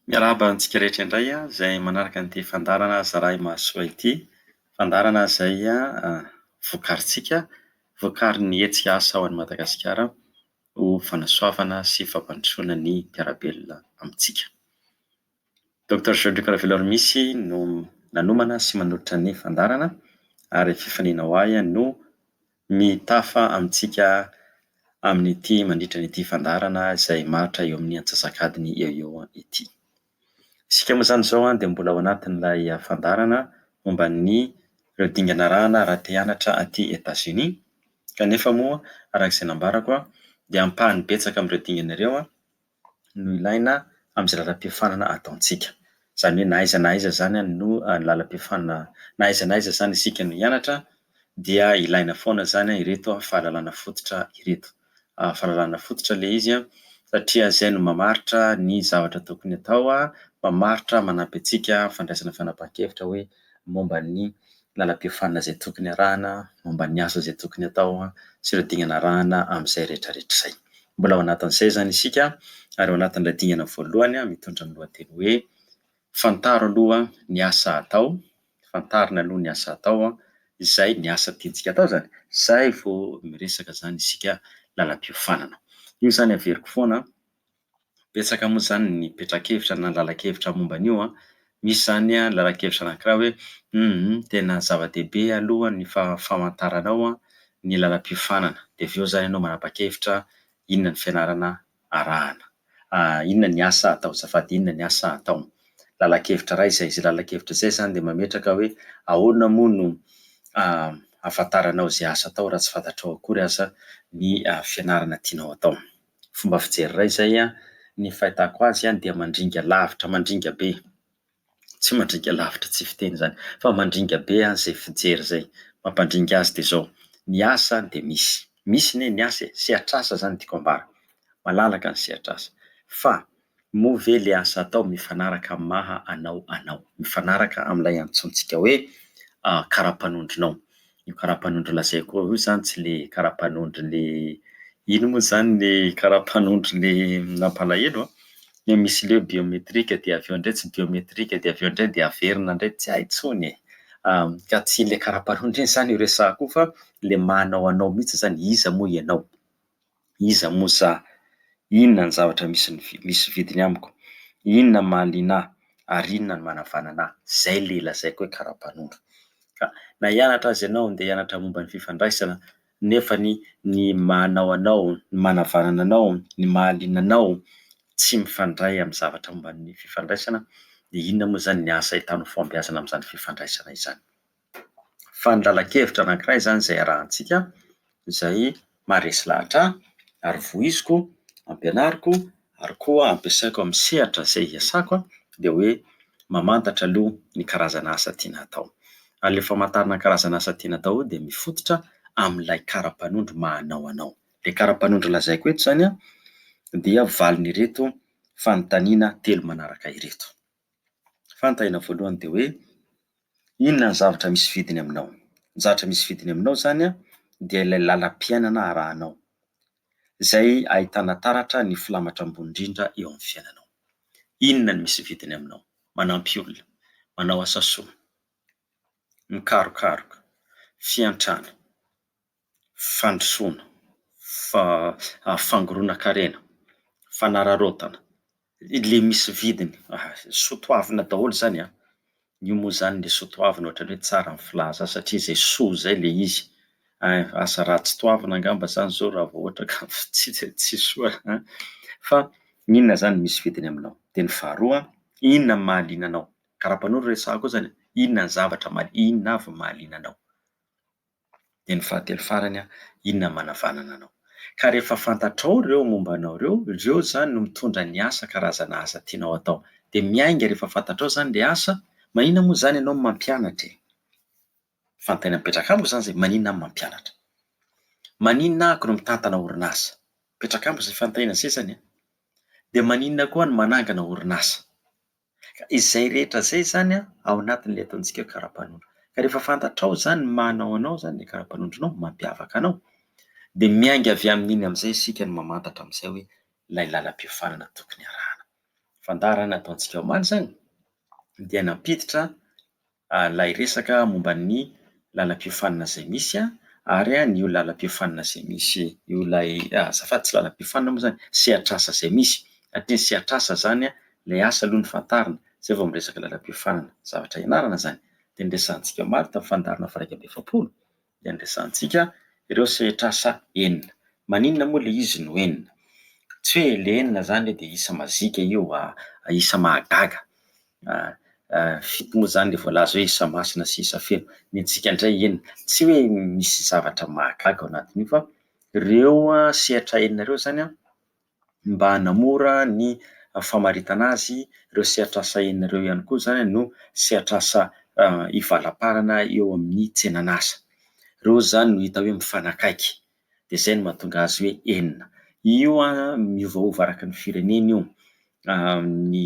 Miarahaba antsika rehetra indray izay manaraka ity fandaharana Zarahimahasoa ity. Fandaharana izay vokarintsika, vokarin'ny hetsika asa ao Madagasikara ho fanasoavana sy fampandrosoana ny mpiara-belona amintsika. Doctor Jean-Luc Raveloarimisy no nanomana sy manolotra ny fandaharana ary fifaliana ho ahy no mitafa amintsika amin'ity mandritra an'ity fandaharana izay maritra eo amin'ny antsasak'adiny eo eo ity. Isika moa izany izao an dia mbola ao anatin'ilay fandaharana momba ny ireo dingana arahana raha te hianatra aty Etazonia kanefa moa araka izay nambarako an dia ampahany betsaka amin'ireo dingana ireo an no ilaina amin'izay lalam-piofanana ataontsika. Izany hoe na aiza na aiza izany no ny lalam-piofanana, na aiza na aiza izany isika no hianatra dia ilaina foana izany ireto fahalalana fototra ireto. Fahalalana fototra ilay izy satria izay no mamaritra ny zavatra tokony atao, mamaritra manampy antsika fandraisana fanapahan-kevitra hoe momba ny lalam-piofanana izay tokony arahana, momba ny asa izay tokony atao sy ireo dingana arahana amin'izay rehetrarehetra izay. Mbola ao anatin'izay izany isika ary ao anatin'ilay dingana voalohany mitondra ny lohateny hoe Fantaro aloha ny asa atao, fantarina aloha ny asa atao izay ny asa tiantsika atao izany, izay vao miresaka izany isika lalam-piofanana. Io izany averiko foana Betsaka moa izany ny petra-kevitra na lalan-kevitra momba an'io an! Misy izany an, lalan-kevitra anankiray hoe humm tena zava-dehibe aloha ny fa- famantaranao an ny lalam-piofanana, dia avy eo izany ianao manapa-kevitra inona ny fianarana arahana, inona ny asa atao, azafady, inona ny asa atao. Lalan-kevitra iray izay. Izay lalan-kevitra izay izany dia mametraka hoe ahoana moa no ahafantaranao izay asa atao raha tsy fantatrao akory aza ny fianarana tianao atao. fomba fijery iray izay ny fahitako azy dia mandringa lavitra mandringa be, tsy mandringa lavitra tsy fiteny izany fa mandringa be izay fijery izay, mampandringa azy dia izao, ny asa dia misy, misy anie ny asa e, sehatr'asa izany no tiako ambara, malalaka ny sehatr'asa fa. Moa ve ilay asa atao mifanaraka amin'ny maha anao anao, mifanaraka amin'ilay antsointsika hoe kara-panondronao? Io kara-panondro lazaiko ao io zany tsy ilay kara-panondron'ny ino moa zany ny kara-panondron'ny mampalahelo an! Ilay misy leo biometrika dia avy eo indray tsy biometrika dia avy eo indray dia averina indray tsy hay intsony e! ka tsy ilay kara-panondro iny zany no resahako io fa ilay maha anao anao mihitsy zany, iza moa ianao? Iza moa za? Inona ny zavatra misy misy vidiny amiko? Inona ny mahaliana ahy? Ary inona no manavanana ahy? Izay ilay lazaiko hoe kara-panondro. Ka na hianatra aza ianao, handeha hianatra momba ny fifandraisana, nefany ny manao anao, ny manavanana anao, ny mahaliana anao tsy mifandray amin'ny zavatra momba ny fifandraisana, dia inona moa izany ny asa entanao fahombiazana amin'izany fifandraisana izany? fa ny lalan-kevitra anankiray izany izay iarahantsika, izay maharesy lahatra ahy ary voiziko, ampianariko ary koa ampiasaiko amin'ny sehatra izay iasako an, dia hoe mamantatra aloha ny karazana asa tiana hatao. Ary ilay famantarana ny karazana asa tiana hatao dia mifototra amin'ilay kara-panondro maha anao anao. Ilay kara-panondro lazaiko eto izany an, dia valin'ireto fanontaniana telo manaraka ireto. Fanontaniana voalohany dia hoe inona ny zavatra misy vidiny aminao? Ny zavatra misy vidiny aminao zany a dia ilay lalam-piainana arahanao, zay ahitana taratra ny filamatra ambony indrindra eo amin'ny fiainanao. Inona no misy vidiny aminao? Manampy olona, manao asa soa, mikarokaroka, fiantrana. fandrosoana, fa- fangoronan-karena, fanararaotana, ilay misy vidiny, soa toavina daholo izany an! Io moa izany ilay soa toavina ohatran'ny hoe tsara ny filazana azy satria izay soa izay ilay izy. Asa ratsy toavina angamba izany izao raha vao ohatra ka tsy soa an! Fa inona izany misy vidiny aminao? Dia ny faharoa, inona no mahaliana anao? Karapanondro resahako eo izany e, inona ny zavatra mahaliana, inona avy no mahaliana anao? dia ny fahatelo farany an, inona no manavanana anao? Ka rehefa fantatrao ireo momba anao ireo, ireo izany no mitondra ny asa, karazana asa tianao hatao. Dia miainga rehefa fantatrao izany ilay asa, maninona moa izany ianao no mampianatra e? Fanontaniana mipetraka amiko izany izay, maninona aho no mampianatra? Maninona ahiko no mitantana orinasa? Mipetraka amiko izay fanontaniana izay izany an! Dia maninona koa aho no manangana orinasa? Ka izay rehetra izay izany an, ao anatin'ilay ataontsika hoe kara-panondro. Ka rehefa fantatrao izany ny maha anao anao izany, ilay kara-panondronao, ny mampiavaka anao, dia miainga avy amin'iny amin'izay isika no mamantatra amin'izay hoe ilay lalam-piofanana tokony harahana. Fandaharana ataontsika omaly izany dia nampiditra ilay resaka momba ny lalam-piofanana izay misy ary an io lalam-piofanana izay misy io ilay azafady tsy lalam-piofanana moa izany sehatr'asa izay misy satria ny sehatr'asa izany an ilay asa aloha no fantarina izay vao miresaka lalam-piofanana zavatra ianarana izany dia ny resahantsika omaly tamin'ny fandaharana faha iraika amby efapolo iandrasantsika ireo sehatr'asa enina. Maninona moa ilay izy no enina? Tsy hoe ilay enina izany dia isa mazika io, isa mahagaga. Fito moa izany ilay voalaza hoe isa masina sy isa feno. Ny antsika indray enina. Tsy hoe misy zavatra mahagaga ao anatin'io fa ireo sehatra enina ireo izany an! mba hanamora ny famaritana azy, ireo sehatr'asa enina ireo ihany koa izany no sehatr'asa ivalamparana eo amin'ny tsenan'asa. Ireo izany no hita hoe mifanakaiky, dia izay no mahatonga azy hoe enina. Io an, miovaova araka ny firenena io, ny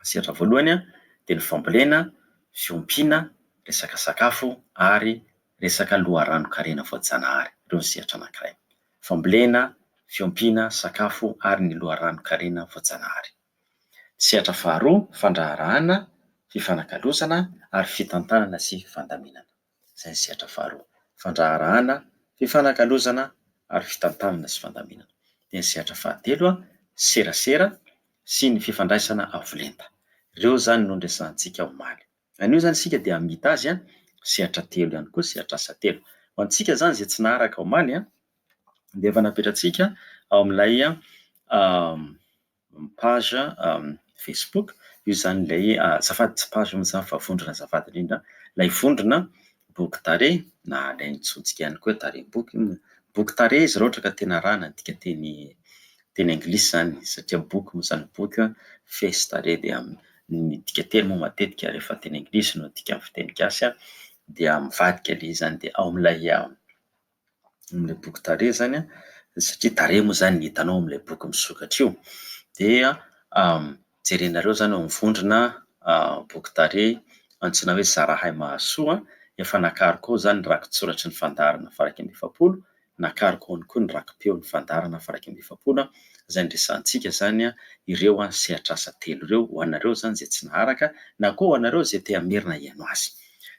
Ny sehatra voalohany dia ny fambolena, fiompiana, resaka sakafo ary resaka loharanon-karena voajanahary. Ireo ny sehatra anankiray. Fambolena, fiompiana, sakafo ary ny loharanon-karena voajanahary. Ny sehatra faharoa, fandraharahana, fifanakalozana ary fitantanana sy fandaminana. izay ny sehatra faharoa. Fandraharahana, fifanakalozana ary fitantanana sy fandaminana. Dia ny sehatra fahatelo, serasera sy ny fifandraisana avo lenta. Ireo izany no noresahantsika omaly. Anio izany isika dia hamita azy sehatra telo ihany koa, sehatr'asa telo. Ho antsika izany izay tsy naharaka omaly dia efa napetratsika ao amin'ilay ny page facebook, io izany ilay azafady tsy page mihintsy izany fa vondrona azafady indrindra, ilay vondrona boky tarehy na alaintsontsika ihany koa hoe tarehim-boky io, boky tarehy izy raha ohatra ka tena arahana adika teny teny anglisy izany satria boky moa izany boky face tarehy dia ny midika teny moa matetika rehefa teny anglisy no adika amin'ny fiteny gasy dia mivadika ilay izy izany dia ao amin'ilay amin'ilay boky tarehy izany an, satria tarehy moa izany ny hitanao ao amin'ilay boky misokatra io, dia jerenareo izany eo amin'ny vondrona boky tarehy antsoina hoe Zarahay Mahasoa, efa nakaroko ao izany ny rakitsoratry ny fandaharana faha-iraika amby efapolo, nakariko ao ihany koa ny raki-peo ny fandaharana faha-iraika amby efapolo, izay niresahantsika izany ireo sehatr'asa telo ireo, ho anareo izany izay tsy naharaka, na koa ho anareo izay te-hamerina hihaino azy.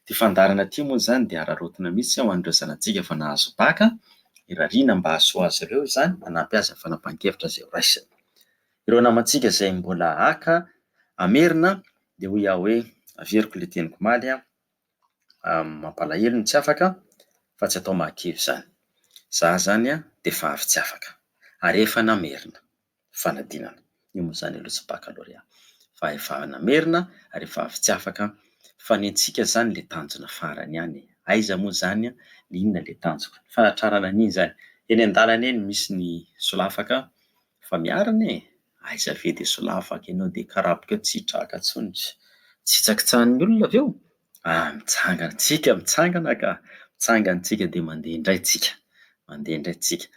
Ity fandaharana ity moa izany dia araraotina mihitsy ho an'ireo zanatsika efa nahazo bac, irariana mba hahasoa azy ireo izany, hanampy azy amin'ny fanapahan-kevitra izay ho raisiny. Ireo namantsika izay mbola haka hamerina dia hoy aho hoe averiko ilay teniko omaly an, mampalahelo ny tsy afaka fa tsy atao mahakivy izany. Izaho izany dia efa avy tsy afaka ary efa namerina. fanadinana. Io moa izany aloha tsy bakalôrea. Fa efa namerina ary efa avy tsy afaka. Fa ny antsika izany ilay tanjona farany ihany e. Aiza moa izany an, le inona ilay tanjona. Ny fanatrarana an'iny izany. Eny an-dalana eny misy ny solafaka fa miarina e. Aiza ve dia solafaka ianao dia karaboka eo tsy traka intsony. Tsy hitsakitsahan'ny olona avy eo. Aa mitsangana antsika mitsangana ka. Mitsangana antsika dia mandeha indray tsika. Mandeha indray tsika.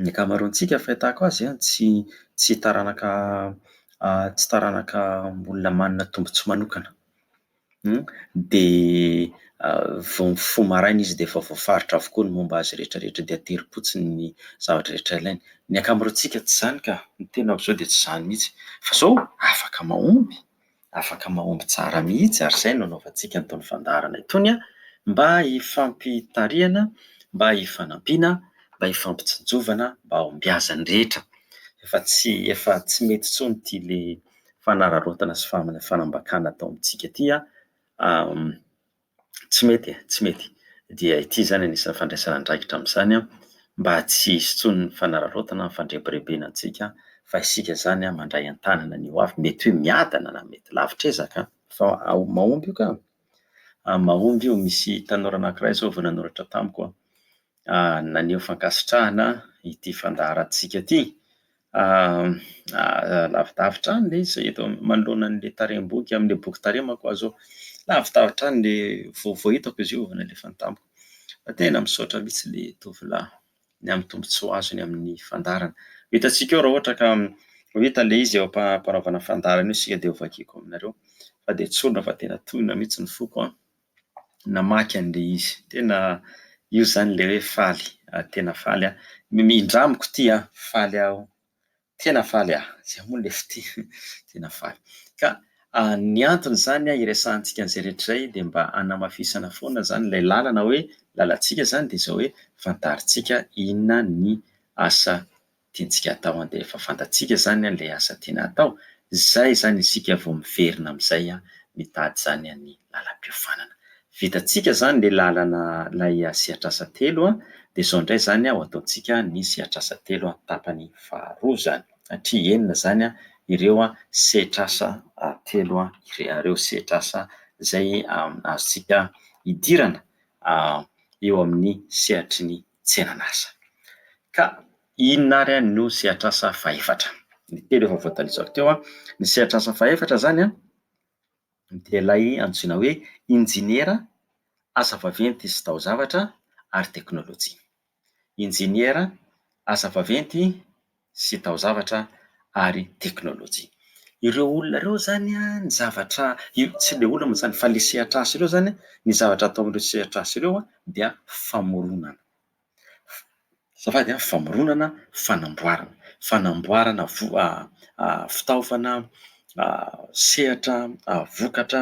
ny ankamaroantsika fahitako azy an, tsy tsy taranaka tsy taranaka olona manana tombontsoa manokana. Dia vao mifoha maraina izy dia efa voafaritra avokoa ny momba azy rehetrarehetra dia aterim-potsiny ny zavatra rehetra ilainy. Ny ankamaroantsika tsy izany ka, ny tenako izao dia tsy izany mihitsy. Fa izao afaka mahomby. Afaka mahomby tsara mihitsy ary izay no anaovantsika an'itony fandaharana itony mba hifampitarihana, mba hifanampiana, mba hifampitsinjovana, mba hahombiazan'ny rehetra. Efa tsy efa tsy mety intsony ity ilay fanararaotana sy fanambakana atao amintsika ity an, tsy mety e, tsy mety. Dia ity izany anisan'ny fandraisana andraikitra amin'izany mba tsy hisy intsony ny fanararaotana, ny fandrebirebena antsika fa isika izany mandray an-tanana ny hoavy. Mety hoe miadana na mety lavitra ezaka fa mahomby io ka! mahomby io. Misy tanora anankiray izao vao nanoratra tamiko an, naneho fankasitrahana ity fandaharantsika ity. Lavidavitra any ilay izy eto manoloana an'ilay tarehim-boky amin'ilay boky tarehy manko aho izao. Lavidavitra any ilay vaovao hitako izy io vao nalefany tamiko. Fa tena misaotra mihitsy ilay tovolahy ny amin'ny tombontsoa azony amin'ny fandaharana. Ho hitantsika eo raha ohatra ka ho hita ilay izy eo am-panaovana fandaharana eo isika dia ho vakiako aminareo fa dia tsorina fa tena tohina mihitsy ny foko an! namaky an'ilay izy. Tena io izany ilay hoe faly, tena faly aho. Mindramiko ity an, faly aho, tena faly aho. Izay moa ilay fitia, tena faly. Ka ny antony izany hiresahantsika an'izay rehetra izay dia mba hanamafisana foana izany ilay lalana hoe, lalantsika izany dia izao hoe fantarintsika inona ny asa. tiantsika atao an dia efa fantatsika zany an le asa tiana atao zay zany isika vao miverina amizay an mitady zany an ny lalam-piofanana vitantsika zany le lalana lay sehatrasa telo an dia zao ndray zany an ho ataontsika ny sehatrasa telo an tapany faharoa zany satria enina zany an ireo an sehatrasa telo an ireo sehatrasa zay azontsika idirana eo amin'ny sehatry ny tsenan'asa. Ka inona ary any no sehatr'asa fahefatra? Ny telo efa voatalizako teo. Ny sehatr'asa fahefatra izany dia ilay antsoina hoe injeniera, asa vaventy sy taozavatra ary teknolojia. Injeniera, asa vaventy, sy taozavatra ary teknolojia. Ireo olona ireo izany an, ny zavatra, tsy ilay olona moa izany fa ilay sehatr'asa ireo izany an, ny zavatra ataon'ireo sehatr'asa ireo an, dia famoronana, azafady an, famoronana, fanamboarana, fanamboarana voa- fitaovana, sehatra, vokatra,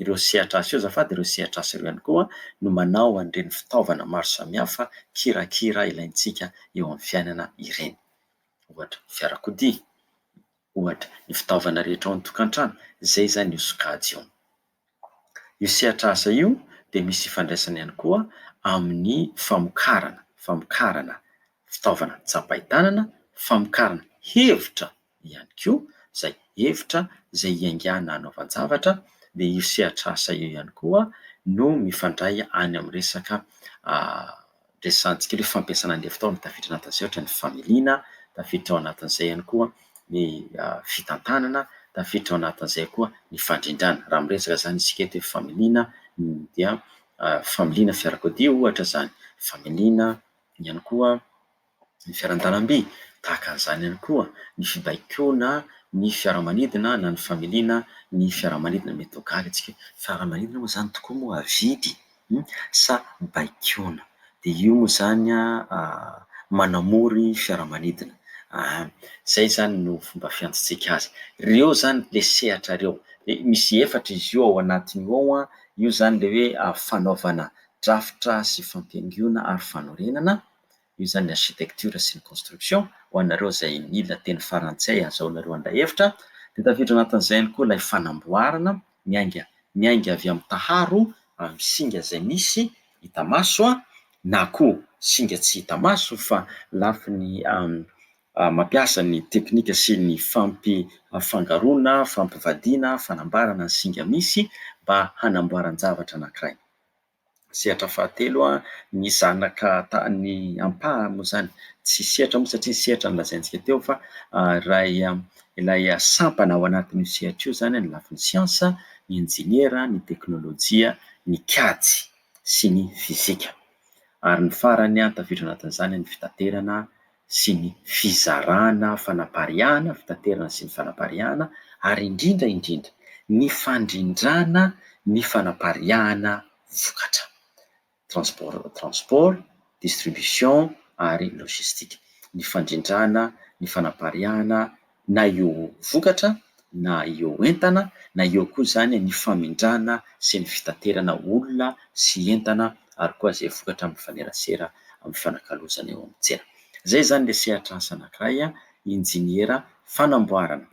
ireo sehatr'asa io azafady, ireo sehatr'asa ireo ihany koa no manao an'ireny fitaovana maro samihafa kirakira ilaintsika eo amin'ny fiainana ireny. Ohatra, ny fiarakodia, ohatra, ny fitaovana rehetra ao an-tokantrano, izay izany io sokajy io. Io sehatr'asa io dia misy ifandraisany ihany koa amin'ny famokarana, famokarana fitaovana tsapain-tanana, famokarana hevitra ihany koa izay hevitra izay hiaingàna hanaovan-javatra, dia io sehatr'asa io ihany koa no mifandray any amin'ny resaka resahantsika hoe fampiasana ny lefitao no tafiditra anatin'ny sehatry ny familiana, tafiditra ao anatin'izay ihany koa ny fitantanana, tafiditra ao anatin'izay koa ny fandrindrana. Raha miresaka izany isika eto hoe familiana dia familiana fiarakodia ohatra izany, familiana ihany koa. ny fiaran-dalamby, tahaka an'izany ihany koa ny fibaikoana ny fiaramanidina na ny familiana ny fiaramanidina. Mety ho gaga isika hoe fiaramanidina moa izany tokoa moa avidy sa baikoana? Dia io moa izany manamory fiaramanidina. Izay izany no fomba fiantsotsika azy. Ireo izany ilay sehatra ireo. Dia misy efatra izy io ao anatiny ao a, io izany ilay hoe fanaovana drafitra sy fampihaingoana ary fanorenana. io izany ny architecture sy ny construction, ho anareo izay mila teny farantsay hahazoanareo handray hevitra, dia tafiditra anatin'izay ihany koa ilay fanamboarana miainga miainga avy amin'ny taharo amin'ny singa izay misy hita maso na koa singa tsy hita maso fa lafiny mampiasa ny teknika sy ny fampifangaroana, fampivadiana, fanambarana ny singa misy mba hanamboaran-javatra anankiray. Sehatra fahatelo an, ny zanaka tany ampahany moa izany tsy sehatra moa satria ny sehatra no lazaintsika teo fa iray ilay sampana ao anatin'io sehatra io izany ny lafiny siansa, ny injeniera, ny teknolojia, ny kajy sy ny fizika. Ary ny farany an, tafiditra ao anatin'izany ny fitaterana. sy ny fizarana fanapariahana, fitaterana sy ny fanapariahana, ary indrindra indrindra, ny fandrindrana ny fanapariahana vokatra, transport, transport, distribution ary logistique, ny fandrindrana ny fanapariahana na eo vokatra na eo entana na eo koa izany ny famindrana sy ny fitaterana olona sy entana ary koa izay vokatra mifanerasera amin'ny fanakalozana eo amin'ny tsena. Izay izany ilay sehatr'asa anankiray injeniera fanamboarana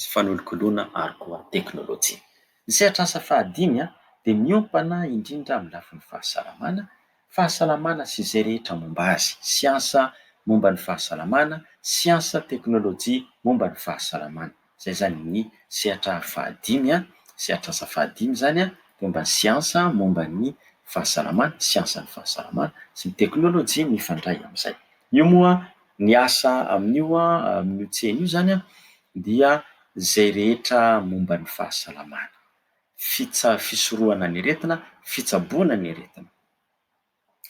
sy fanolokoloana ary koa teknolojia. Ny sehatr'asa fahadimy dia miompana indrindra amin'ny lafiny fahasalamana Fahasalamana sy izay rehetra momba azy, siansa momba ny fahasalamana, siansa, teknolojia momba ny fahasalamana. Izay izany ny sehatra fahadimy an, sehatr'asa fahadimy izany an, dia momba ny siansa momba ny fahasalamana, siansan'ny fahasalamana, sy ny teknolojia mifandray amin'izay. Io moa ny asa amin'io an, amin'io tsena io izany an, dia izay rehetra momba ny fahasalamana. fitsa fisorohana ny aretina, fitsaboana ny aretina.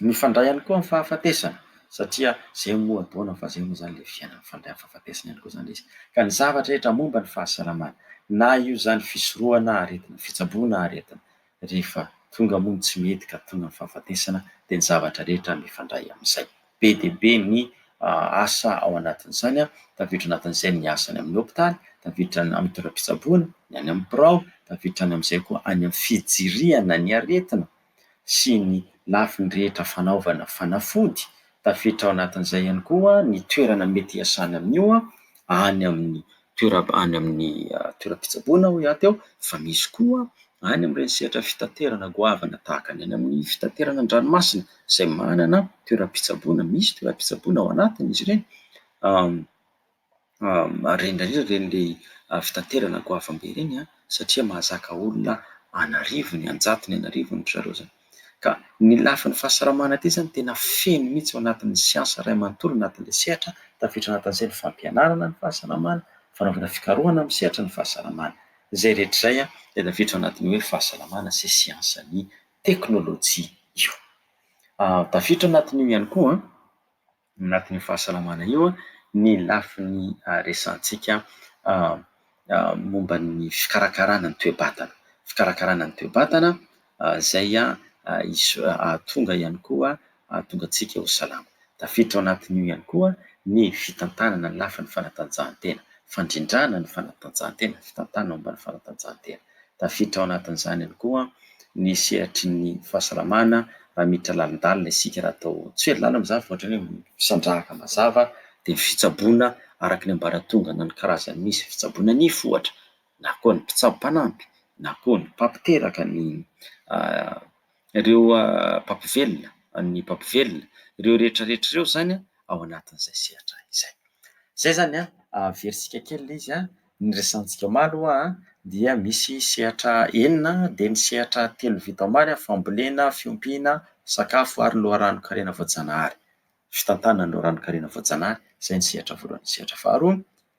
Mifandray ihany koa amin'ny fahafatesana satria zay moa ataonao fa zay moa zany le fiainana mifandray amin'ny fahafatesana ihany koa zany le izy. Ka ny zavatra rehetra momba ny fahasalamana na io zany fisorohana aretina, fitsaboana aretina rehefa tonga moa ny tsy mety ka tonga ny fahafatesana de ny zavatra rehetra mifandray amin'izay. be dia be ny asa ao anatin'izany, tafiditra anatin'izay ny asa any amin'ny hopitaly, tafiditra any amin'ny toeram-pitsaboana, ny any amin'ny birao, tafiditra any amin'izay koa any amin'ny fijirihana ny aretina sy ny lafiny rehetra fanaovana fanafody, tafiditra ao anatin'izay ihany koa ny toerana mety hiasana amin'io any amin'ny toeram- any amin'ny toeram-pitsaboana hoy aho teo, fa misy koa any amin'ireny sehatra fitaterana goavana tahaka ny any amin'ny fitaterana an-dranomasina izay manana toeram-pitsaboana, misy toeram-pitsaboana ao anatiny izy ireny, ary indrindra indrindra ireny ilay fitaterana goavambe ireny satria mahazaka olona an'arivony, an-jatony an'arivony ry zareo izany. Ka ny lafiny fahasalamana ity izany tena feno mihitsy ao anatin'ny siansa iray manontolo anatin'ilay sehatra, tafiditra ao anatin'izay ny fampianarana ny fahasalamana, fanaovana fikarohana amin'ny sehatry ny fahasalamana. Izay rehetra izay dia tafiditra ao anatin'ny hoe fahasalamana sy siansan'ny teknolojia io. Tafiditra ao anatin'io ihany koa anatin'io fahasalamana io ny lafiny resahantsika momba ny fikarakarana ny toe-batana. Fikarakarana ny toe-batana izay hahatonga ihany koa hahatonga antsika ho salama. Tafiditra ao anatin'io ihany koa ny fitantanana ny lafiny fanatanjahantena, fandrindrana ny fanatanjahantena, fitantanana momba ny fanatanjahantena. Tafiditra ao anatin'izany ihany koa ny sehatry ny fahasalamana raha miditra lalindalina isika, raha atao tsy hoe lalina izany fa ohatran'ny hoe misandrahaka mazava dia ny fitsaboana araka ny ambaratonga na ny karazany misy, fitsaboana nify ohatra na koa ny mpitsabo mpanampy na koa ny mpampiteraka ny ireo mpampivelona, an'ny mpampivelona. Ireo rehetra rehetra ireo izany ao anatin'izay sehatra izay. Izay izany an, averisika kely ilay izy an, ny resahantsika omaly aloha an, dia misy sehatra enina, dia ny sehatra telo vita omaly an, fambolena, fiompiana, sakafo ary loharanon-karena voajanahary. Fitantanana ny loharanon-karena voajanahary, izay ny sehatra voalohany. Ny sehatra faharoa,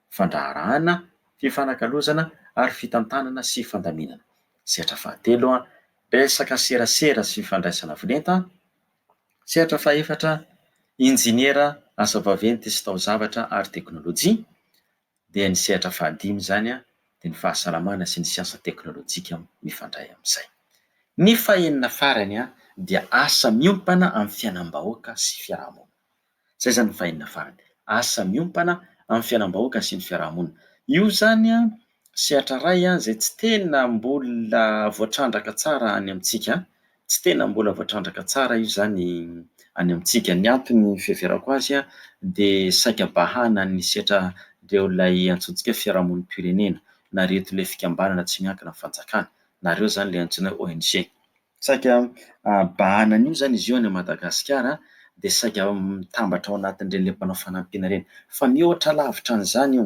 fandraharahana, fifanakalozana ary fitantanana sy fandaminana. Sehatra fahatelo, Resaka serasera sy fandraisana volenta. Sehatra fahefatra, Injiniera, asa vaventy sy taozavatra ary teknolojia. Dia ny sehatra fahadimy izany dia ny fahasalamana sy ny siansa teknolojika mifandray amin'izay. Ny fahenina farany dia asa miompana amin'ny fiainam-bahoaka sy fiarahamonina. Zay zany vainina farany. Asa miompana amin'ny fiainam-bahoaka sy ny fiaraha-monina. Io zany an, sehatra iray an, zay tsy tena mbola voatrandraka tsara any amintsika an. Tsy tena mbola voatrandraka tsara io zany any amintsika. Ny antony fiheverako azy an, dia saika bahana ny sehatran'ireo ilay antsointsika fiaraha-monim-pirenena, na ireto ilay fikambanana tsy miankina amin'ny fanjakana, na ireo zany ilay antsoina hoe ONG. Saika bahana an'io izany izy io any Madagasikara dia saika mitambatra ao anatin'ireny ilay mpanao fanampiana ireny. Fa mihoatra lavitra an'izany io,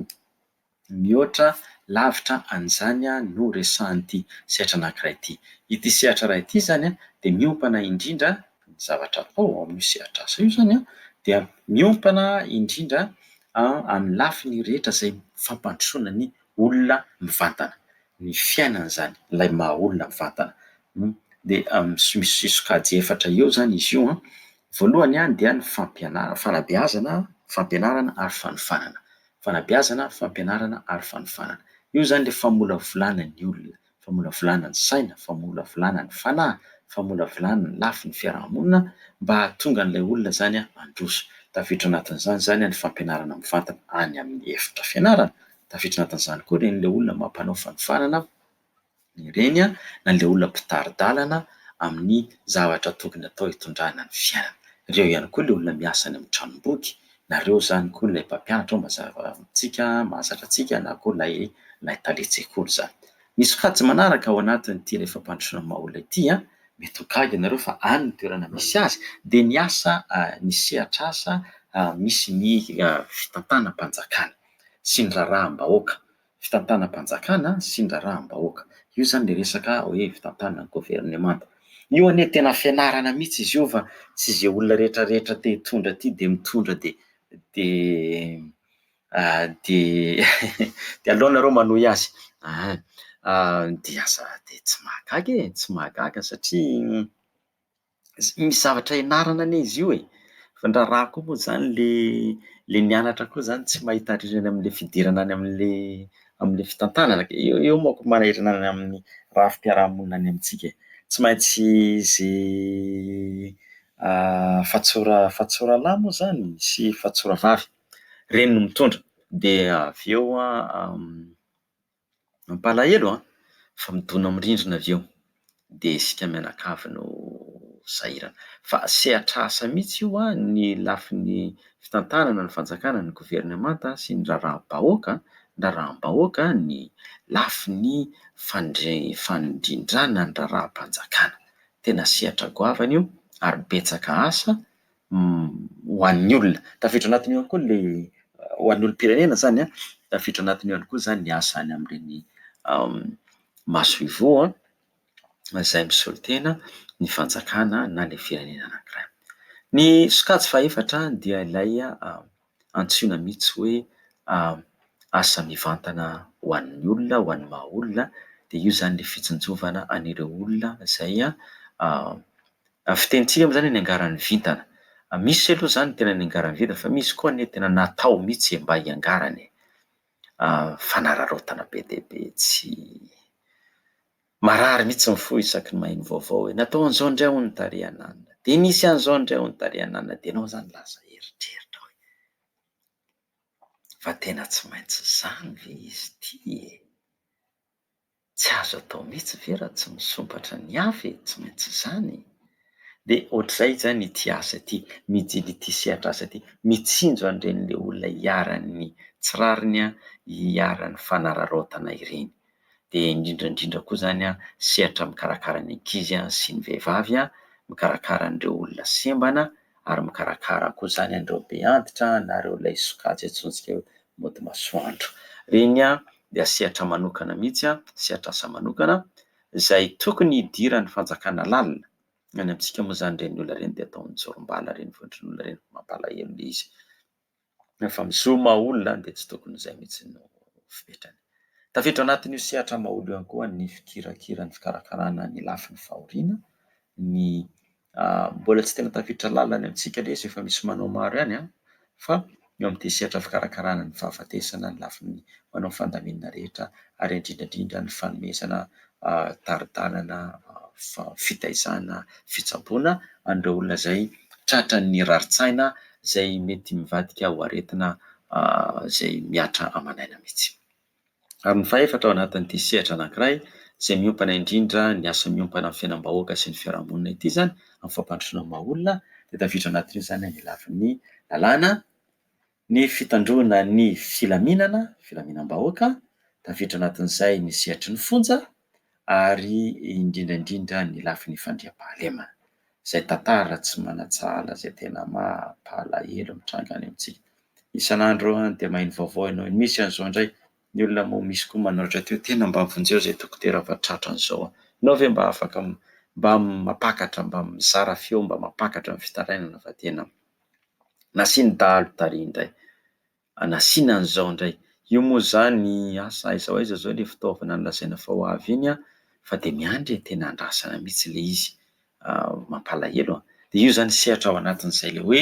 mihoatra lavitra an'izany no resahan'ity sehatra anankiray ity. Ity sehatra iray ity izany an, dia miompana indrindra ny zavatra atao ao amin'io sehatr'asa io izany an, dia miompana indrindra amin'ny lafiny rehetra izay fampandrosoana ny olona mivantana. ny fiainana izany, ilay maha olona mivantana. Dia misy sokajy efatra eo izany izy io an, voalohany an dia ny fampianarana, fanabeazana, fampianarana ary fanofanana, fanabeazana, fampianarana ary fanofanana. Io izany ilay famolavolana ny olona, famolavolana ny saina, famolavolana ny fanahy, famolavolana ny lafiny fiaraha-monina mba hahatonga an'ilay olona izany an handroso. Tafiditra ao anatin'izany izany ny fampianarana mivantana any amin'ny efitra fianarana. Tafiditra anatin'izany koa ireny ilay olona mampanao fanofanana ireny na ilay olona mpitari-dalana amin'ny zavatra tokony atao hitondrana ny fiainana. Ireo ihany koa ilay olona miasa any amin'ny tranom-boky na ireo izany koa ilay mpampianatra ao mazava ho amintsika, mahazatra antsika na koa ilay ilay talen-tsekoly izany. Ny sokajy manaraka ao anatin'ity ilay fampandrosoana ny maha olona ity an, mety ho gaga ianareo fa any ny toerana misy azy dia ny asa, ny sehatr'asa misy ny fitantanam-panjakana. sy ny raharaham-bahoaka, fitantanam-panjakana sy ny raharaham-bahoaka. Io izany ilay resaka hoe fitantanana, governemanta. Io anie tena fianarana mihitsy izy io fa tsy izay olona rehetrarehetra te hitondra aty dia mitondra dia dia dia dia aleo nareo manohy azy an! dia aza dia tsy mahagaga e! tsy mahagaga satria misy zavatra ianarana anie izy io e, fa ny raharaha koa moa zany le le nianatra koa zany tsy mahita harena any am'le fidirana any am'le am'le fitantanana ke, eo eo manko manahirana any amin'ny rafi-piarahamonina any amintsika e, tsy maintsy ze fatsora fatsoralahy moa zany sy fatsoravavy, reny no mitondra de avy eo an. Mampalahelo an! Fa midona amin'ny rindrina avy eo. Dia isika mianakavy no sahirana. Fa sehatr'asa mihitsy io an, ny lafiny fitantanana, ny fanjakana, ny governemanta sy ny raharaham-bahoaka, ny raharaham-bahoaka, ny lafiny fandre- fandrindràna ny raharaham-panjakana. Tena sehatra goavana io ary betsaka asa ho an'ny olona. Tafiditra anatin'io ihany koa ilay ho an'ny olom-pirenena izany an, tafiditra anatin'io ihany koa izany ny asa any amin'ireny maso ivoho izay misolo tena ny fanjakana na ilay firenena anankiray. Ny sokajy fahefatra dia ilay antsoina mihitsy hoe asa mivantana ho an'ny olona, ho an'ny maha olona, dia io izany ilay fitsinjovana an'ireo olona izay fitenintsika moa izany niangaran'ny vintana. Misy aloha izany tena niangaran'ny vintana fa misy koa anie tena natao mihitsy mba hiangarana e! fanararaotana be dia be tsy Marary mitsy ny fo isaky ny maheno vaovao hoe natao an'izao indray hono tary an'anona, dia nisy an'izao indray hono tary an'anona dia ianao izany lasa eritreritra hoe fa tena tsy maintsy izany ve izy ity e! Tsy azo atao mitsy ve raha tsy misompatra ny hafa e! Tsy maintsy izany e! Dia ohatr'izay izany ity asa ity, mijily ity sehatra asa ity, mitsinjo an'ireny le olona iharan'ny tsy rariny an, iharan'ny fanararaotana ireny. dia indrindra indrindra koa izany sehatra mikarakara ny ankizy sy ny vehivavy, mikarakara an'ireo olona sembana ary mikarakara koa izany an'ireo be antitra na ireo ilay sokajy antsointsika hoe mody masoandro. Ireny dia sehatra manokana mihitsy, sehatra asa manokana izay tokony hidiran'ny fanjakana lalina. Ny any amintsika moa izany ireny olona ireny dia atao mijorom-bala ireny vondron'olona ireny, mampalahelo ilay izy. Rehefa mizohy maha olona dia tsy tokony izay mihitsy no fipetrany. Tafiditra anatin'io sehatra maha olona io ihany koa ny fikirakira ny fikarakarana ny lafiny fahoriana, ny mbola tsy tena tafiditra lalina any amintsika ilay izy efa misy manao maro ihany an! fa eo amin'ity sehatra fikarakarana ny fahafatesana ny lafiny manao fandaminana rehetra ary indrindra indrindra ny fanomezana tari-dalana fitaizana fitsaboana an'ireo olona izay tratran'ny rarin-tsaina izay mety mivadika ho aretina izay mihatra aman'aina mihitsy. Ary ny fahefatra ao anatin'ity sehatra anankiray izay miompana indrindra ny asa miompana amin'ny fiainam-bahoaka sy ny fiarahamonina ity izany amin'ny fampandrosoana ny maha olona dia tafiditra anatin'io izany ny lafiny lalàna Ny fitandroana ny filaminana, filaminam-bahoaka, tafiditra anatin'izay ny sehatry ny fonja ary indrindra indrindra ny lafiny fandriampahalemana. Izay tantara tsy manan-tsahala izay tena mampalahelo mitranga any amintsika. Isan'andro eo any dia maheno vaovao ianao, misy an'izao indray, ny olona moa misy koa manoratra teo, tena mba vonjeo izay dokotera fa tratran'ny izao an! Ianao ve mba afaka mba mampakatra, mba mizara feo mba mampakatra ny fitarainana fa tena. nasiany dahalo tary indray, nasiany an'izao indray, io moa izany asa aiza ho aiza izao ilay fitaovana nolazaina fa ho avy iny an, fa dia miandry e, tena andrasana mihitsy ilay izy, mampalahelo an! dia io izany sehatra ao anatin'izay ilay hoe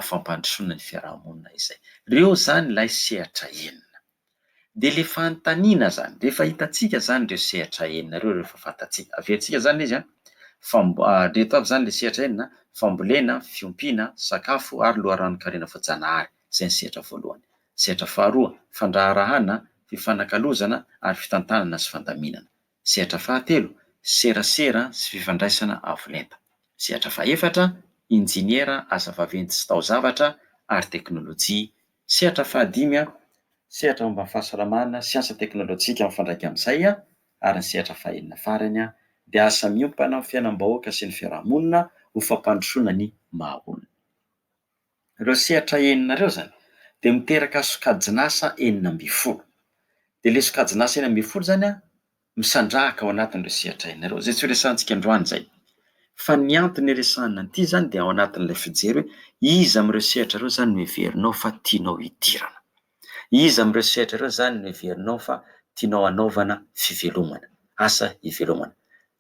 fampandrosoana ny fiaraha-monina izay, ireo izany ilay sehatra enina. Dia ilay fanontaniana izany, rehefa hitantsika izany ireo sehatra enina ireo, rehefa fantatsika, averintsika izany ilay izy an, famb- ireto avy izany ilay sehatra enina, fambolena, fiompiana, sakafo ary loharanon-karena voajanahary, izay ny sehatra voalohany. Sehatra faharoa, fandraharahàna, fifanakalozana ary fitantanana sy fandaminana. Sehatra fahatelo, serasera sy fifandraisana avo lenta. Sehatra fahefatra, injeniera, asa vaventy sy taozavatra ary teknolojia Sehatra fahadimy, sehatra momba ny fahasalamana, siansa teknolojika ary mifandraika amin'izay, ary ny sehatra fahenina farany dia asa miompana amin'ny fiainam-bahoaka sy ny fiaraha-monina ho fampandrosoana ny maha olona. Ireo sehatra enina ireo izany dia miteraka sokajin'asa enina ambin'ny folo. Dia ilay sokajin'asa enina ambin'ny folo izany an, misandrahaka ao anatin'ireo sehatra hainareo, izay tsy ho resahantsika androany izay. Fa ny antony hiresahana an'ity izany dia ao anatin'ilay fijery hoe iza amin'ireo sehatra ireo izany no heverinao fa tianao hidirana. Iza amin'ireo sehatra ireo izany no heverinao fa tianao hanaovana fivelomana, asa hivelomana.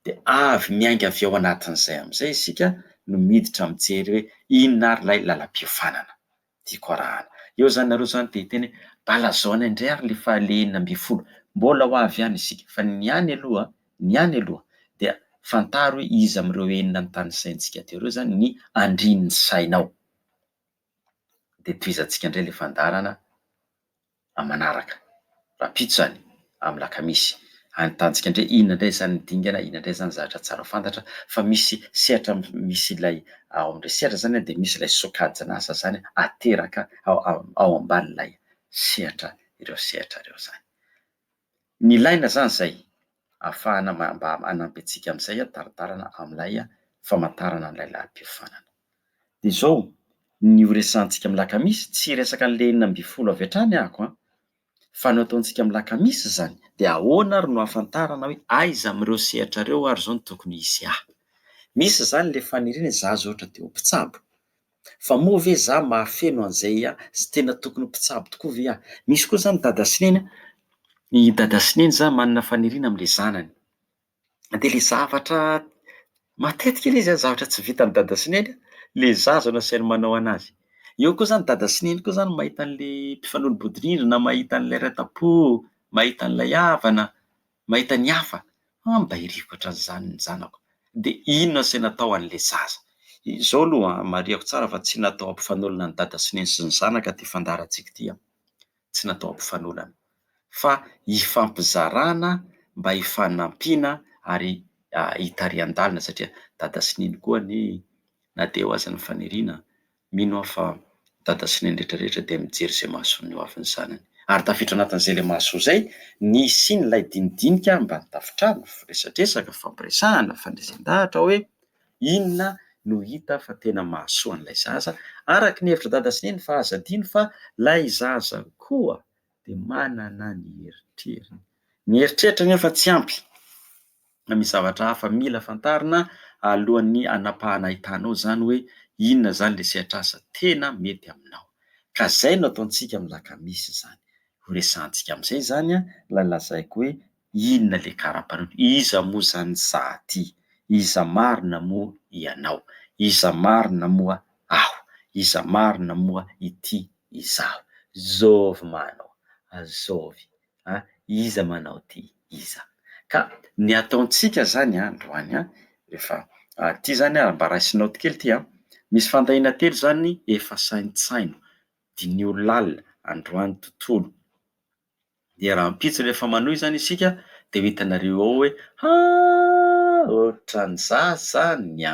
Dia avy miainga avy ao anatin'izay amin'izay isika no miditra mijery hoe inona ary ilay lalam-piofanana. Tiako arahana. Eo zany nareo zany te hiteny hoe balazao any indray ary le faha le enina ambin'ny folo. Mbola ho avy any isika fa ny any aloha ny any aloha dia fantaro hoe iza amin'ireo enina ny tanisaintsika teo ireo zany ny andrin'ny sainao. De tohizantsika indray le fandaharana. aman'araka, rahampitso izany, amin'ny lakamisy. Any Tanjika indray, inona indray izany dingana, inona indray izany zavatra tsara fantatra fa misy sehatra misy ilay ao amin'ilay sehatra izany dia misy ilay sokajin'asa izany ateraka ao ao ao ambanin'ilay sehatra ireo sehatra ireo izany. Nilaina izany izay ahafahana mba hanampy antsika amin'izay hitaritarana amin'ilay famantarana an'ilay lahim-piofanana. Dia izao ny horesahantsika amin'ny lakamisy, tsy hiresaka an'ilay enina ambin'ny folo avy hatrany aho an! Fa ny ataontsika amin'ny lakamisy izany dia ahoana ary no ahafantarana hoe aiza amin'ireo sehatra ireo ary izao no tokony hisy ahy? Misy izany ilay faniriana izaho izao ohatra te ho mpitsabo Fa moa ve za mahafeno an'izay a! Tsy tena tokony ho mpitsabo tokoa ve aho? Misy koa izany dada sy neny a, i dada sy neny zany manana faniriana amin'ilay zanany. Dia ilay zavatra, matetika ilay izy a, zavatra tsy vitan'i dada sy neny ilay zaza no asainy manao an'azy. Eo koa izany dada sy neny koa izany mahita an'ilay mpifanolo-bodirindrina, mahita an'ilay ranta-po, mahita an'ilay havana. Mahita ny hafa, Ambairiko hatran'izany ny zanako, dia inona izay natao an'ilay zaza? Izao aloha an, marihako tsara fa tsy natao hampifanolana ny dada sy neny sy ny zanaka ity fandaharantsika ity an! Tsy natao hampifanolana, fa hifampizarana mba hifanampiana ary hitarihan-dalana satria dada sy neny koa anie na dia eo aza ny faniriana Mino aho fa Dada sy Neny rehetra rehetra dia mijery izay mahasoa ny hoavin'ny zanany. Ary tafiditra anatin'izay ilay mahasoa izay ny hisian'ilay dinidinika ambany tafontrano, firesadresaka, fifampiresahana, fandresen-dahatra hoe inona no hita fa tena mahasoa an'ilay zaza, araka ny hevitra Dada sy Neny fa aza adino fa ilay zaza koa dia manana ny eritreriny. Ny eritreritra anefa tsy ampy. misy zavatra hafa mila fantarina alohan'ny hanapahana ahitanao izany hoe inona izany ilay sehatr'asa tena mety aminao. Ka izay no ataontsika amin'ny lakamisy izany. Horesahantsika amin'izay izany ilay lazaiko hoe inona ilay kara-panondro, iza moa izany ny saha ity, iza marina moa ianao, iza marina moa aho, iza marina moa ity izaho. Zovy ma anao, azovy. a iza manao ty iza ka ny ataontsika zany androany a efa a ty zany a mba raisinao ty kely ty a misy fandahiana telo zany efa saintsaino diniho lalina androany tontolo dia rahampitso rehefa manohy zany isika dia ho hitanareo ao hoe haa ohatran'ny za zany a.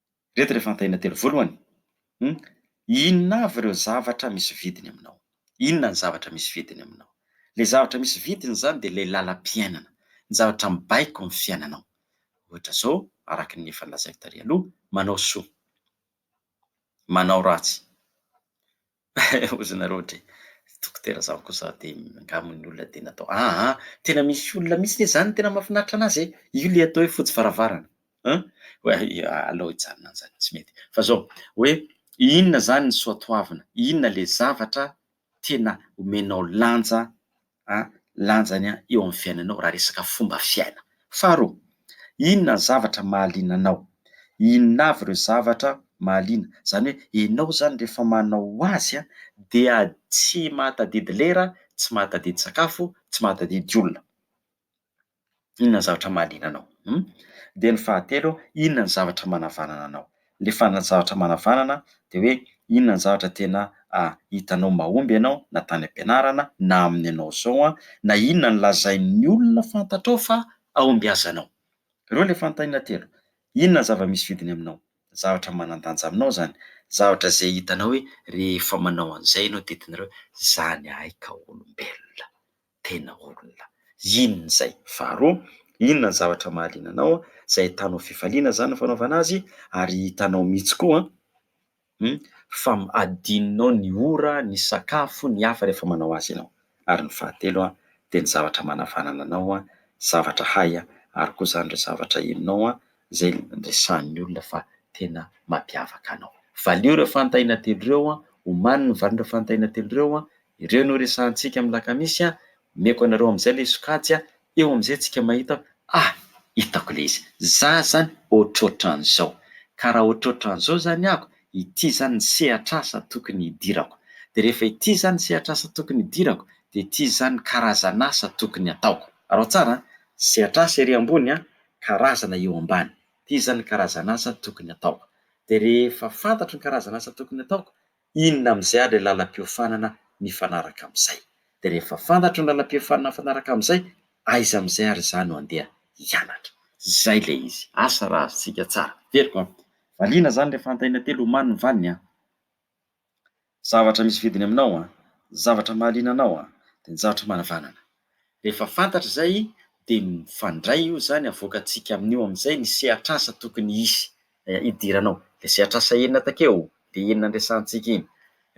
Ireto ireo fanontaniana telo. Voalohany, Inona avy ireo zavatra misy vidiny aminao? Inona ny zavatra misy vidiny aminao? Ilay zavatra misy vidiny izany dia ilay lalam-piainana, ny zavatra mibaiko ny fiainanao. Ohatra izao, araka ny efa nolazaiko tary aloha, manao soa, manao ratsy. Ozy nareo dry dokotera zaho kosa de nga mo ny olona de natao ah ah tena misy olona mihitsy ne zany tena mafinaritra anazy e io le atao hoe fotsy varavarana an oe aleo hijanona anzany tsy mety fa zao oe inona zany ny soatoavina inona le zavatra tena omenao lanja a lanjany a eo amin'ny fiainanao raha resaka fomba fiaina. Faharoa, inona ny zavatra mahaliana anao? Inona avy ireo zavatra mahaliana? Izany hoe ianao izany rehefa manao azy a dia tsy mahatadidy lera, tsy mahatadidy sakafo, tsy mahatadidy olona. Inona ny zavatra mahaliana anao? Hum. Dia ny fahatelo, inona ny zavatra manavanana anao? Ilay farany zavatra manavanana dia hoe inona ny zavatra tena hitanao mahomby anao na tany am-pianarana na amin'ny anao izao na inona no lazain'ny olona fantatrao fa hahombiazanao. Ireo ilay fanontaniana telo. Inona ny zava-misy vidiny aminao? Zavatra manan-danja aminao izany. Zavatra izay hitanao hoe rehefa manao an'izay ianao dia hitanareo hoe izany ahy ka olombelona. tena olona. Inona izay? Faharoa, inona ny zavatra mahaliana anao izay ahitanao fifaliana izany ny fanaovana azy ary hitanao mihitsy koa fa adinonao ny ora, ny sakafo, ny hafa rehefa manao azy ianao? Ary ny fahatelo dia ny zavatra manavanana anao, zavatra hay ary koa izany ireo zavatra henonao izay resahin'ny olona fa tena mampiavaka anao. Valio ireo fanontaniana telo ireo, omanin'ny valiny ireo fanontaniana telo ireo Ireo no resahantsika amin'ny lakamisy an! Omeko anareo amin'izay ilay sokajy an! Eo amin'izay antsika mahita ah! Hitako ilay izy! Za zany ohatrohatran'izao! Ka raha ohatrohatran'izao zany ako, ity zany ny sehatr'asa tokony hidirako! Dia rehefa ity zany ny sehatr'asa tokony hidirako, dia ity zany ny karazan'asa tokony hataoko! Araho tsara an! Sehatr'asa ery ambony an! Karazana eo ambany! Ity zany ny karazan'asa tokony hataoko! Dia rehefa fantatro ny karazan'asa tokony hataoko, Inona amin'izay ary ilay lalam-piofanana mifanaraka amin'izay? Dia rehefa fantatra ny lalam-piofanana mifanaraka amin'izay, aiza amin'izay ary izaho no handeha hianatra? Izay ilay izy. Asa raha azontsika tsara. Heveriko an! Valiana izany ilay fanontaniana telo omaly ny valiny an! Zavatra misy vidiny aminao an! Ny zavatra mahaliana anao an! Dia ny zavatra manavanana. Rehefa fantatra izay dia mifandray io izany avoakantsika amin'io amin'izay ny sehatr'asa tokony hisy hidiranao. Ilay sehatr'asa enina takeo, ilay enina niresahantsika iny.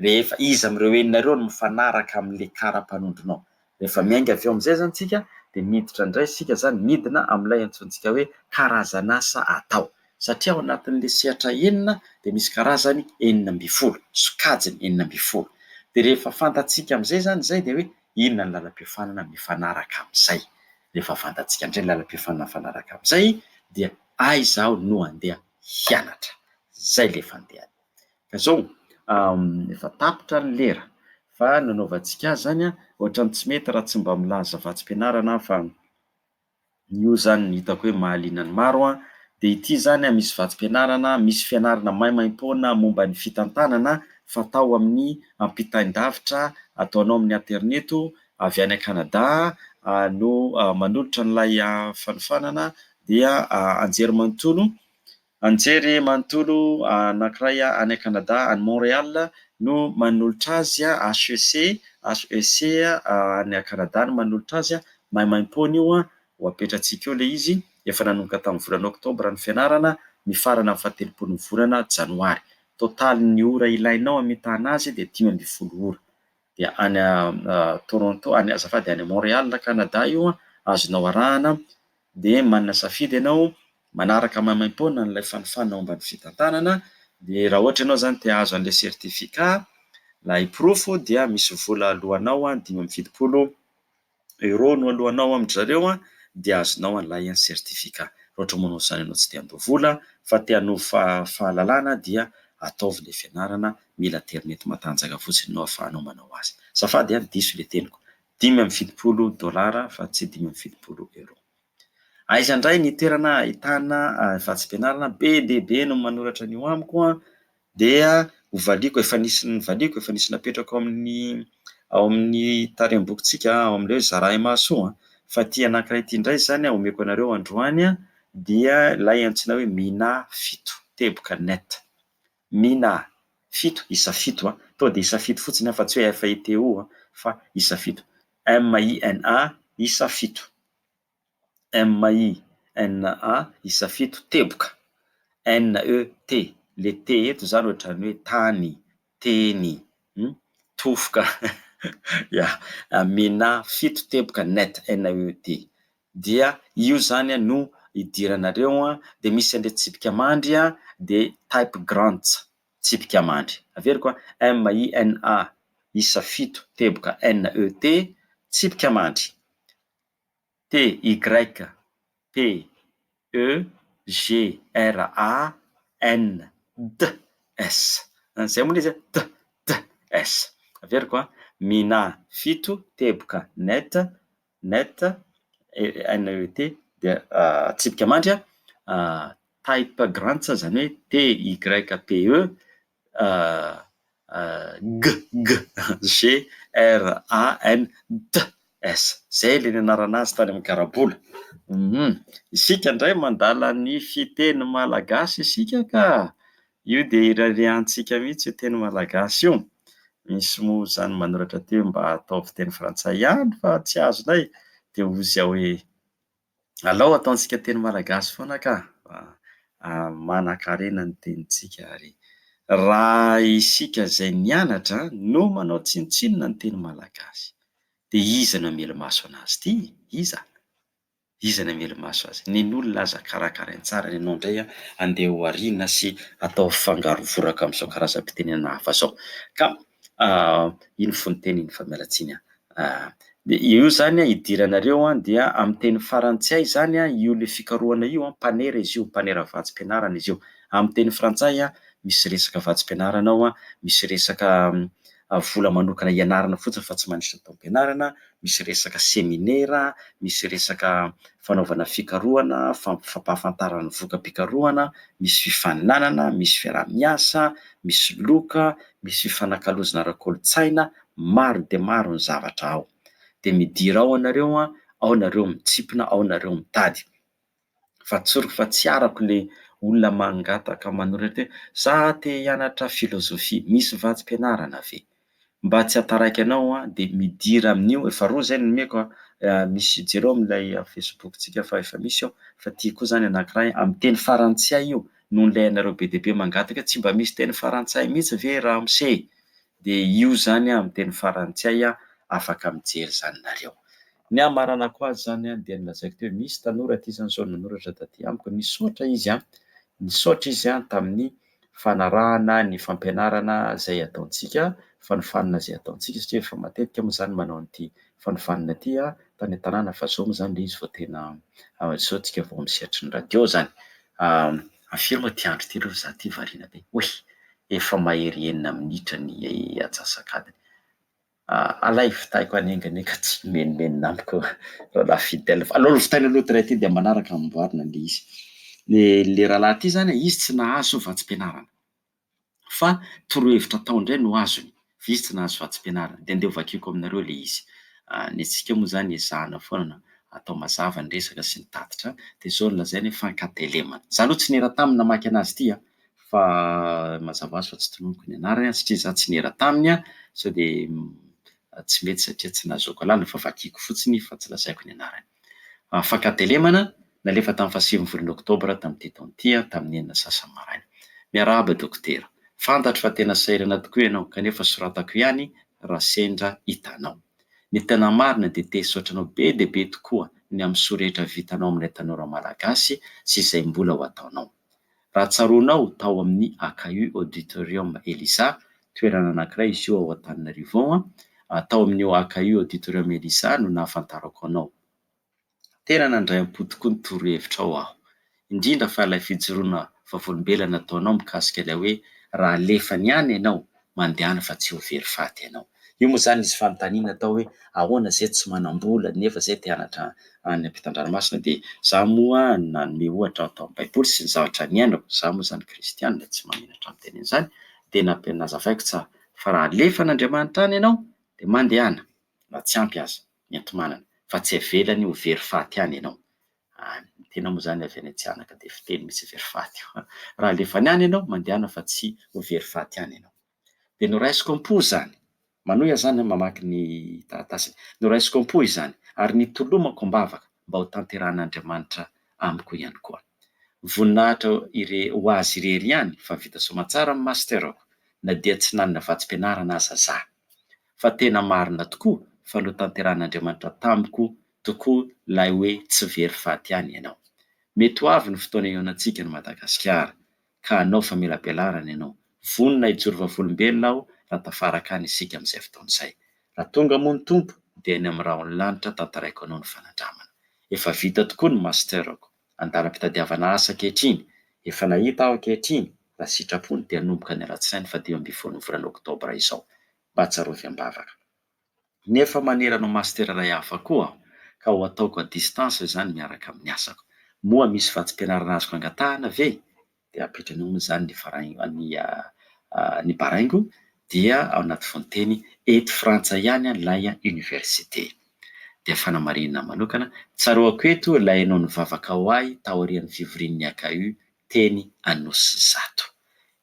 Rehefa iza amin'ireo enina ireo no mifanaraka amin'ilay kara-panondronao. Rehefa miainga avy eo amin'izay izany isika dia miditra indray isika izany midina amin'ilay antsointsika hoe karazan'asa atao. Satria ao anatin'ilay sehatra enina dia misy karazany enina ambin'ny folo, sokajiny enina ambin'ny folo. Dia rehefa fantatsika amin'izay izany izay dia hoe Inona ny lalam-piofanana mifanaraka amin'izay? Rehefa fantatsika indray ny lalam-piofanana mifanaraka amin'izay dia aiza aho no handeha hianatra? Izay ilay fandehany. Ka izao, efa tapitra ny lera fa nanaovantsika azy izany, ohatran'ny tsy mety raha tsy mba milaza vatsim-pianarana aho fa Io izany no hitako hoe mahaliana ny maro an, dia ity izany an, misy vatsim-pianarana, misy fianarana maimaim-poana momba ny fitantanana fatao amin'ny ampitain-davitra ataonao amin'ny aterineto, avy any Canada no manolotra an'ilay fanofanana dia anjerimanontolo Anjery manontolo anankiray any Canada, any Montréal, no manolotra azy, HEC, HEC any Canada no manolotra azy, maimaimpoana io ho apetratsika eo ilay izy, efa nanomboka tamin'ny volana oktobra ny fianarana, mifarana amin'ny fahatelopolon'ny volana janoary. Totalin'ny ora ilainao hamitana azy dia dimy ambin'ny folo ora. Dia any Toronto, azafady, any Montréal, Canada io, azonao arahana dia manana safidy ianao manaraka maimaim-poana an'ilay fanofana ao ambany fitantanana, dia raha ohatra ianao izany te hahazo an'ilay certificat, ilay porofo, dia misy vola aloanao dimy amby fitopolo euro no aloanao amin-dry zareo an, dia azonao an'ilay certificat. Raha ohatra moa izany ianao tsy te handoa vola fa te hanovo fa- fahalalana dia ataovy ilay fianarana, mila aterineto matanjaka fotsiny no ahafahanao manao azy. Azafady an, diso ilay teniko. dimy amby fitopolo dolara fa tsy dimy amby fitopolo euro. Aiza indray ny toerana ahitana vatsim-pianarana be dia be no manoratra an'io amiko an, dia ho valiako, efa nisy novaliako, efa nisy napetrako ao amin'ny ao amin'ny tarehimbokitsika ao amin'ilay hoe zarahy mahasoa an, fa ity anankiray ity indray izany an, omeko anareo androany an, dia ilay antsoina hoe Mina fito teboka net. Mina a! Fito, isa fito a! Tonga dia isa fito fotsiny aho fa tsy hoe F I T O a! Fa isa fito. M I N A, isa fito. M I N A, isa fito, teboka. N E T, le T eto izany ohatrany hoe tany, teny, hum, tofoka, ya, Mina fito teboka net, N E T. dia io zany no idiranareo an, dia misy an'ilay tsipika mandry an, dia type grants, tsipika mandry, averiko an, MINA, isa fito, teboka NET, tsipika mandry, TYPEGRANDS, izay moa ilay izy an, DDS, averiko an, MINA fito, teboka NET, Net, NET, dia tsipika mandry, Type Grants, izany hoe TYPE, GGGRANTS. Izay ilay nianarana azy tany amin'ny garabola. Isika indray mandala ny fiteny malagasy isika ka! Io dia irariantsika mihitsy io teny malagasy io. Misy moa izany manoratra teo hoe mba ataovy teny frantsay ihany fa tsy azonay dia hozy aho hoe alao ataontsika teny malagasy foana ka fa manankarena ny tenintsika ary raha isika izay nianatra no manao tsinontsinona ny teny malagasy dia iza no hamelo-maso an'azy ity? Iza? Iza no hamely maso azy? Nen'olona aza karakarainy tsara ianao indray an! Andeha ho ariana sy atao fangarovoraka amin'izao karazam-pitenenana hafa izao. Ka iny fononteny iny famelatsiany an! Dia io izany an, idiranareo an, dia amin'ny teny farantsay izany an, io ilay fikarohana io an, mpanera izy io, mpanera vatsim-pianarana izy io. Amin'ny teny frantsay an, misy resaka vatsim-pianarana ao an, misy resaka vola manokana hianarana fotsiny fa tsy mandritra taom-pianarana, misy resaka seminera, misy resaka fanaovana fikarohana, fampahafantarana ny voka-pikarohana, misy fifaninanana, misy fiaraha-miasa, misy loka, misy fifanakalozana ara-kolontsaina, maro dia maro ny zavatra ao. Dia midira ao ianareo, ao ianareo mitsipona, ao ianareo mitady. fa tsoriko fa tsy arako le olona mangataka manoratra hoe za te hianatra philosophie misy vatsim-pianarana ve? mba tsy hahataraiky anao aho de midira amin'io, efa roa zay no nomeko a, misy jereo amin'ilay facebook tsika fa efa misy eo, fa ty koa zany anakiray amin'ny teny farantsay io no nilainareo be dia be mangataka hoe tsy mba misy teny farantsay mihitsy ve ramose e! Dia io izany amin'ny teny farantsay afaka mijery izany nareo. Ny hamaranako azy izany dia nolazaiko teo hoe misy tanora ity izany izao nanoratra taty amiko nisaotra izy an, nisaotra izy an tamin'ny fanarahana ny fampianarana izay ataontsika, fanofanana izay ataontsika satria efa matetika moa izany manao an'ity fanofanana ity tany an-tanàna fa izao moa izany ilay izy vao tena izao isika vao amin'ny sehatry ny radio izany. Hafiriako ity andro ity aloha fa izaho ity variana be. Oy! efa mahery enina minitra ny atsasak'adiny. Alaivo tahiko hanenganenga tsy himenomenona amiko rahalahy Fidèle fa aleo lovaina aloha tray ity dia manaraka amboarina le izy. Ny le rahalahy ity zany izy tsy nahazo vatsim-pianarana fa torohevitra atao indray no azony vizit tsy nahazo vatsim-pianarana dia andeha hovakiako aminareo ilay izy. Ny antsika moa izany ezahana foana atao mazava ny resaka sy ny tatitra dia izao no lazainy hoe Fankatelemana. Izaho aloha tsy niera taminy namaky anazy ity an, fa mazava ho azy fa tsy tononiko ny anarany an, satria izaho tsy niera taminy an, sao dia tsy mety satria tsy nahazoako alalana, fa vakiako fotsiny fa tsy lazaiko ny anarany. Afaka telemana, nalefa tamin'ny fahasivin'ny volana oktobra tamin'ity taona ity, tamin'ny enina sy sasany maraina. Miarahaba dokotera. Fantatro fa tena sahirana tokoa ianao, kanefa soratako ihany raha sendra hitanao. Ny tena marina dia te hisaotra anao be dia be tokoa ny amin'ny soa rehetra vitanao amin'ilay tanora malagasy sy izay mbola ho ataonao. Raha tsaroanao, tao amin'ny AKU, Auditorium Elisa, toerana anankiray izy io ao Antananarivo ao an, tao amin'io AKU, Auditorium Elisa, no nahafantarako anao. Tena nandray am-po tokoa ny torohevitrao aho, indrindra fa ilay fijoroana vavolombelona nataonao mikasika ilay hoe raha alefany any ianao mandehana fa tsy ho very faty ianao. Io moa izany nisy fanontaniana atao hoe ahoana izay tsy manam-bola nefa izay te hanatra any am-pitan-dranomasina dia izaho moa nanome ohatra aho tao amin'ny baiboly sy ny zavatra niainako, izaho moa izany kristiana tsy mahamenatra amin'ny teniny izany dia nampiany nazavaiko tsara fa raha alefa an'Andriamanitra any ianao dia mandehana na tsy ampy aza ny enti-manana fa tsy avelany ho very faty any ianao. Any. Ny tena moa izany avy any an-tsihanana ka dia fiteny misy very faty io. Raha alefany any ianao, mandehana fa tsy ho very faty any ianao. Dia noraisiko am-po izany. Manohy aho izany mamaky ny taratasiny. Noraisiko am-po izany, ary nitolomako am-bavaka mba ho tanterahan'Andriamanitra amiko ihany koa. Voninahitra ire- ho Azy irery ihany fa vita soamantsara ny master-ko, na dia tsy nanana vatsim-pianarana aza za. Fa tena marina tokoa fa notanterahan'Andriamanitra tamiko tokoa ilay hoe tsy very faty ihany ianao. Mety ho avy ny fotoana ihaonantsika an'i Madagasikara, ka hanao famelabelarana ianao. Vonona hijoro vavolombelona aho raha tafaraka any isika amin'izay fotoana izay. Raha tonga moa ny Tompo, dia any amin'ny rahon'ny lanitra tantaraiko anao ny fanandramana. Efa vita tokoa ny Master-ko. Andalam-pitadiavana asa ankehitriny. Efa nahita aho ankehitriny. Raha sitrapony, dia hanomboka ny alatsinainy fadimy ambin'ny folo ny volana oktobra izao. Mba tsarovy am-bavaka. Nefa manerana ho master iray hafa koa aho, ka ho ataoko à distance izany miaraka amin'ny asako. Moa misy vatsim-pianarana azoko angatahana ve? Dia apetrany hono izany ny farain-, ny, ny baraingo, dia ao anaty fononteny, eto Frantsa ihany ilay oniversite. Dia fanamarinana manokana, tsaroako eto ilay nao nivavaka ho ahy taorian'ny fivorian'ny AKU teny Anosizato.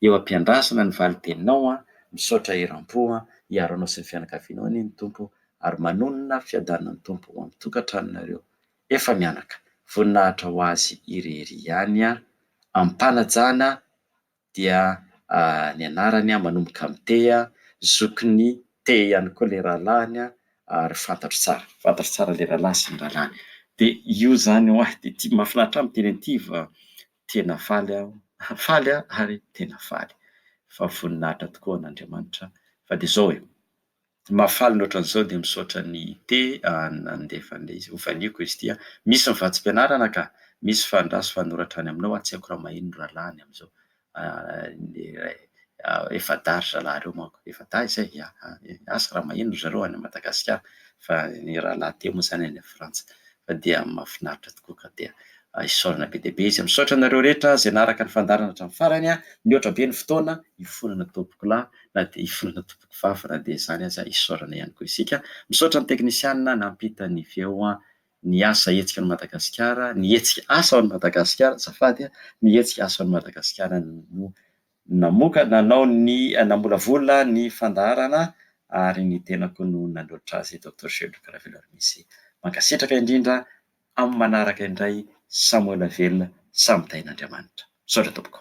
Eo ampiandrasana ny valiteninao an! Misaotra eram-po an! Hiaro anao sy ny fianakavianao anie ny Tompo ary manonona fiadanan'ny Tompo ho amin'ny tokantranonareo efa mianaka. Voninahitra ho Azy irery ihany an! Amim-panajana dia ny anarany an! Manomboka amin'ny te an! Zokin'ny te ihany koa ilay rahalahiny an! ary fantatro tsara, fantatro tsara ilay rahalahy sy ny rahalahiny de io izany ho ahy de ity mahafinaritra ahy miteny an'ity fa tena faly aho, faly aho ary tena faly fa voninahitra tokoa an'Andriamanitra fa de zao e, mahafaly ny ohatran'izao de misaotra an'i Ite nandefa an'ilay izy, hovaniako izy ity an, misy ny vatsim-pianarana ka, misy fandraso fanoratra any aminao an, tsy haiko raha maheno ny rahalahy any amin'izao, Efa-dahy ry zalahy ireo manko. Efa-dahy izay? Ia. Asa raha maheno ry zareo any Madagasikara fa ny rahalahy teo moa izany any Frantsa. Fa dia mahafinaritra tokoa ka dia isaorana be dia be izy. Misaotra anareo rehetra izay naharaka ny fandaharana hatramin'ny farany. Nihoatra be ny fotoana, hifonana tompoko lahy na dia hifonana tompoko vavy na dia izany aza isaorana ihany koa isika. Misaotra ny teknisianina nampita ny feo. ny asa hetsika ao Madagasikara, ny hetsika asa ao Madagasikara azafady a, ny hetsika asa ao Madagasikara no namoka nanao ny namolavola ny fandaharana ary ny tenako no nanohitra azy Docteur Gelluc Raveloarimise. Mankasitraka indrindra amin'ny manaraka indray, samy ho ela velona, samy tahin'Andriamanitra. Misaotra tompoko.